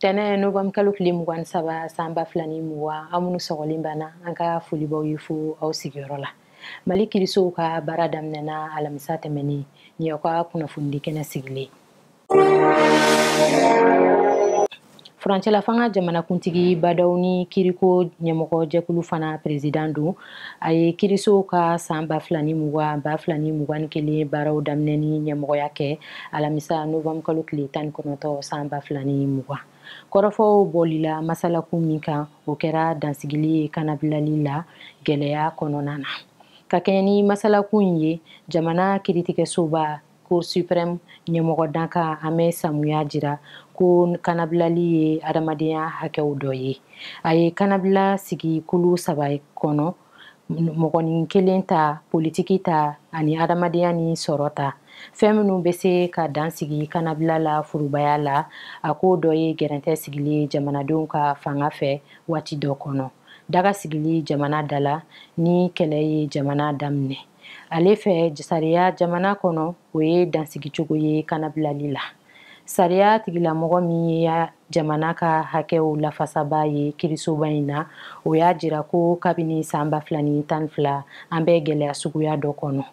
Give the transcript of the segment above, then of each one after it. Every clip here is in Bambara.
tɛnɛ novanburu kalo tile mugan ni saba san ba fila ni mugan aw minnu sɔgɔlen b'an na an ka foli b'aw ye fo aw sigiyɔrɔ la mali kirisow ka baara daminɛna alamisa tɛmɛnen nin aw ka kunnafonidi kɛnɛ sigilen furancɛlafanga jamanakuntigi ba ndaw ni kiriko ɲɛmɔgɔ jɛkulu fana perezidan don a ye kirisow ka san ba fila ni mugan ba fila ni mugan ni kelen baaraw daminɛ ni ɲɛmɔgɔya kɛ alamisa novanburu kalo tile tan ni kɔnɔntɔn san ba fila ni mugan kɔrɔfɔw bolila masalakun min kan o kɛra dansigili ye kanabilali la gɛlɛya kɔnɔna na ka kɛɲɛ ni masalakun in ye jamana kiritigɛsoba cour suprême ɲɛmɔgɔ dankan hamɛt samu y'a jira ko kanabilali ye adamadenya hakɛw dɔ ye a ye kanabila sigi kulu saba kɔnɔ mɔgɔnin kelen ta politiki ta ani adamadenya ni sɔrɔ ta fɛn minnu bɛ se ka dan sigi kanabila la forobaya la a ko dɔ ye gɛrɛntɛ sigili ye jamanadenw kan fanga fɛ waati dɔ kɔnɔ daga sigili jamana da la ni kɛlɛ ye jamana daminɛ ale fɛ sariya jamana kɔnɔ o ye dansigicogo ye kanabilali la sariya tigilamɔgɔ min ye jamana ka hakɛw lafasaba ye kirisoba in na o y'a jira ko kabini san ba fila ni tan ni fila an bɛ gɛlɛya suguya dɔ kɔnɔ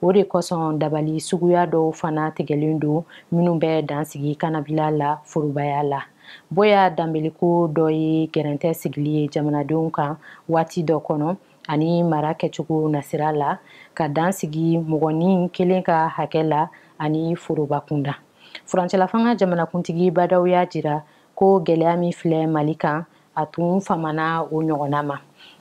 o de kosɔn dabali suguya dɔw fana tigɛlen don minnu bɛ dan sigi kanabila la forobaya la boya danbele ko dɔ ye gɛrɛntɛ sigili ye jamanadenw kan waati dɔ kɔnɔ ani mara kɛcogo nasira la ka dan sigi mɔgɔnin kelen ka hakɛ la ani foroba kunda furancɛlafanga jamanakuntigi ba ndaw y'a jira ko gɛlɛya min filɛ mali kan a tun famana o ɲɔgɔnna ma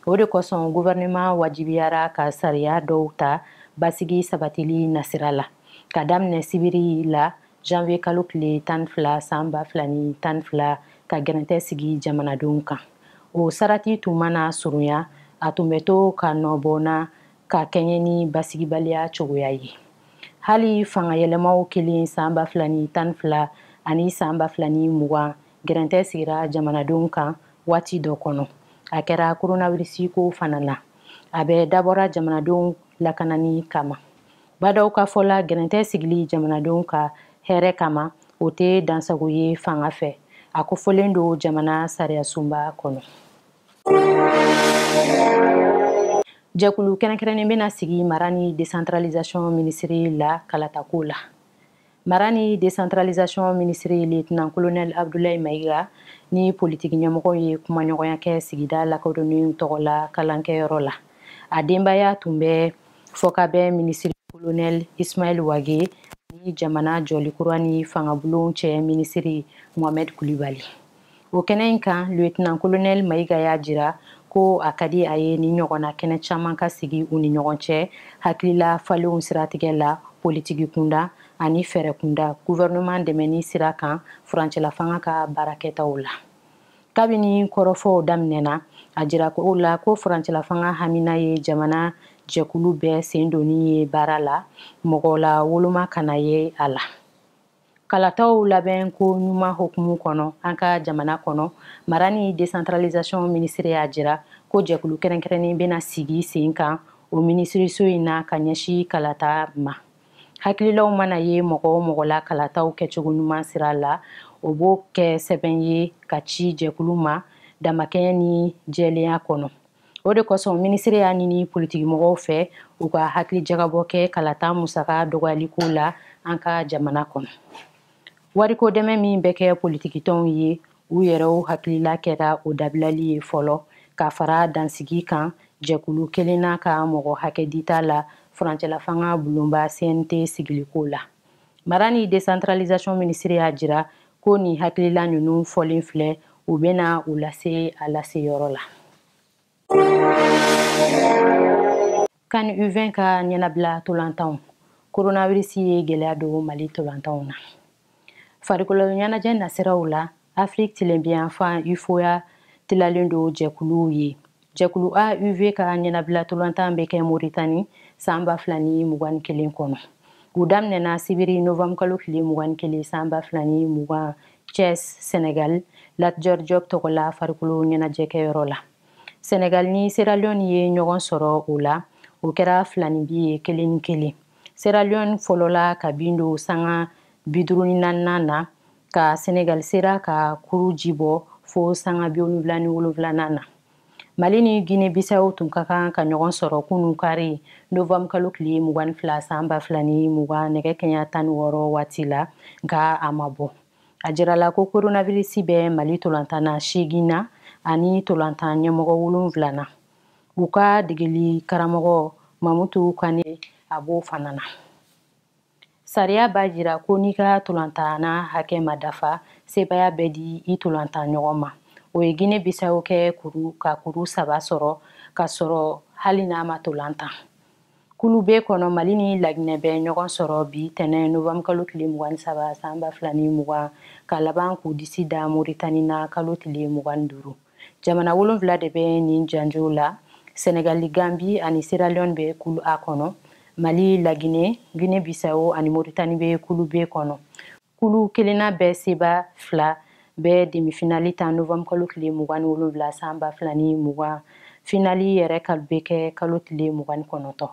o de kosɔn guvɛrɛnɛman wajibiyara ka sariya dɔw ta basigi sabatili nasira la k'a daminɛ sibiri la janvier kalo tile tan ni fila san ba fila ni tan ni fila ka gɛrɛntɛ sigi jamanadenw kan o sarati tun mana surunya a tun bɛ to ka nɔbɔna ka kɛɲɛ ni basigibaliya cogoya ye hali fangayɛlɛmaw kɛlen san ba fila ni tan ni fila ani san ba fila ni mugan gɛrɛntɛ sigira jamanadenw kan waati dɔ kɔnɔ a kɛra koronawirisi ko fana na a bɛɛ dabɔra jamanadenw lakanani kama Ba Ndaw ka fɔ la gɛrɛntɛ sigili jamanadenw ka hɛrɛ kama o tɛ dansago ye fanga fɛ a kofɔlen don jamana sariyasunba kɔnɔ jɛkulu kɛrɛnkɛrɛnnen bɛna sigi mara ni desantaralizasɔn minisitɛri la kalatako la mara ni décentralisation minisiri lieutenant colonel abdulayi mayiga ni politiki ɲɛmɔgɔw ye kumaɲɔgɔnya kɛ sigida lakodɔnnen tɔgɔ la kalankɛyɔrɔ la a denbaya tun bɛ fɔkabɛn minisiri kolonɛl ismail wage ni jamana jɔli kura ni fangabulon cɛ minisiri mohamɛd kulibali o kɛnɛ in kan lieutenant colonel mayiga y'a jira ko a ka di a ye nin ɲɔgɔnna kɛnɛ caman ka sigi u ni ɲɔgɔn cɛ hakilila falenw siratigɛ la politiki kunda ani fɛɛrɛ kunda gouvernement dɛmɛni sira kan furancɛlafanga ka baarakɛtaw la kabini kɔrɔfɔw daminɛna a jira o la ko furancɛlafanga hamina ye jamana jɛkulu bɛɛ sen donni ye baara la mɔgɔlawoloma kana ye a la kalataw labɛnko ɲuman hokumu kɔnɔ an ka jamana kɔnɔ mara ni décentralisation minisiri y'a jira ko jɛkulu kɛrɛnkɛrɛnnen bɛna sigi sen kan o minisiriso in na ka ɲɛsi kalata ma hakililaw mana ye mɔgɔ o mɔgɔ la kalataw kɛcogo ɲuman sira la o b'o kɛ sɛbɛn ye k'a ci jɛkulu ma damakɛɲɛ ni jɛlenya kɔnɔ o de kosɔn minisiri y'a ɲini politikimɔgɔw fɛ u ka hakili jagabɔ kɛ kalata musaka dɔgɔyaliko la an ka jamana kɔnɔ wariko dɛmɛ min bɛ kɛ politikitɔnw ye u yɛrɛw hakilila kɛra o dabilali ye fɔlɔ ka fara dansigi kan jɛkulu kelenna ka mɔgɔ hakɛ dita la furancɛlafanga bulonba cnt sigiliko la mara ni décentralisation minisiri y'a jira ko nin hakilila ninnu fɔlen filɛ u bɛna u lase a laseyɔrɔ la can u20 ka ɲɛnabila tolantanw koronavirisi ye gwɛlɛya don mali tolantanw na farikolo ɲɛnajɛ nasiraw la afiriki tilenbinyanfan ufoa tilalen don jɛkuluw ye jɛkulu a u20 ka ɲɛnabilatolantan bɛ kɛ moritani san ba fila ni mugan ni kelen kɔnɔ u daminɛna sibiri novembre kalo tile mugan ni kelen san ba fila ni mugan cɛs senegal latjɔr job tɔgɔ la farikolo ɲɛnajɛkɛyɔrɔ la senegal ni seralion ye ɲɔgɔn sɔrɔ o la o kɛra filaninbin ye kelen ni kelen seralion fɔlɔla ka bi don sanga bi duuru ni naaninan na ka senegali sera ka kuru ji bɔ fo sanga bi wolonwula ni wolonwulanan na mali ni gine bisawo tun ka kan ka ɲɔgɔn sɔrɔ kunu kari novembre kalo tile mugan ni fila san ba fila ni mugan nɛgɛ kanɲɛ tan ni wɔɔrɔ waati la nka a ma bɔ a jirala ko koronavirisi bɛ mali tolantanna seegin na ani tolantan ɲɛmɔgɔ wolonwula na u ka degeli karamɔgɔ mamutu kane a b'o fana na sariya b'a jira ko n'i ka tolantana hakɛ ma dafa sebaya bɛ di i tolantan ɲɔgɔn ma o ye gine bisawo kɛ kuru ka kuru saba sɔrɔ k'a sɔrɔ hali n'a ma tolantan kulu be kɔnɔ mali ni laginɛ bɛ ɲɔgɔn sɔrɔ bi tɛnɛn novembre kalo tile mugan ni saba san ba fila ni mugan ka laban k'u disi da moritani na kalo tile mugan ni duuru jamana wolonfila de bɛ nin janjo la senegali gambi ani sierra leone bɛ kulu a kɔnɔ mali laginɛ gine bisawo ani moritani bɛ kulu b kɔnɔ kulu kelenna bɛɛ seba fila bɛ demifinali tan novembre kalo tile mugan ni wolonfila san ba fila ni mugan finali yɛrɛ ka bɛ kɛ kalo tile mugan ni kɔnɔntɔn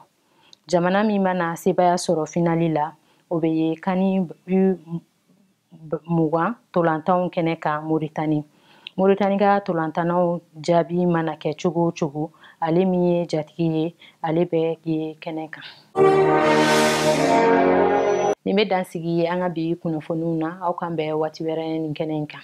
jamana min mana sebaya sɔrɔ finali la o bɛ ye kani mugan tolantanw kɛnɛ kan moritani moritani ka tolantannaw jaabi mana kɛ cogo o cogo ale min ye jatigi ye ale bɛ ye kɛnɛ kan nin bɛ dansigi ye an ka bi kunnafoniw na aw k'an bɛn waati wɛrɛ nin kɛnɛ in kan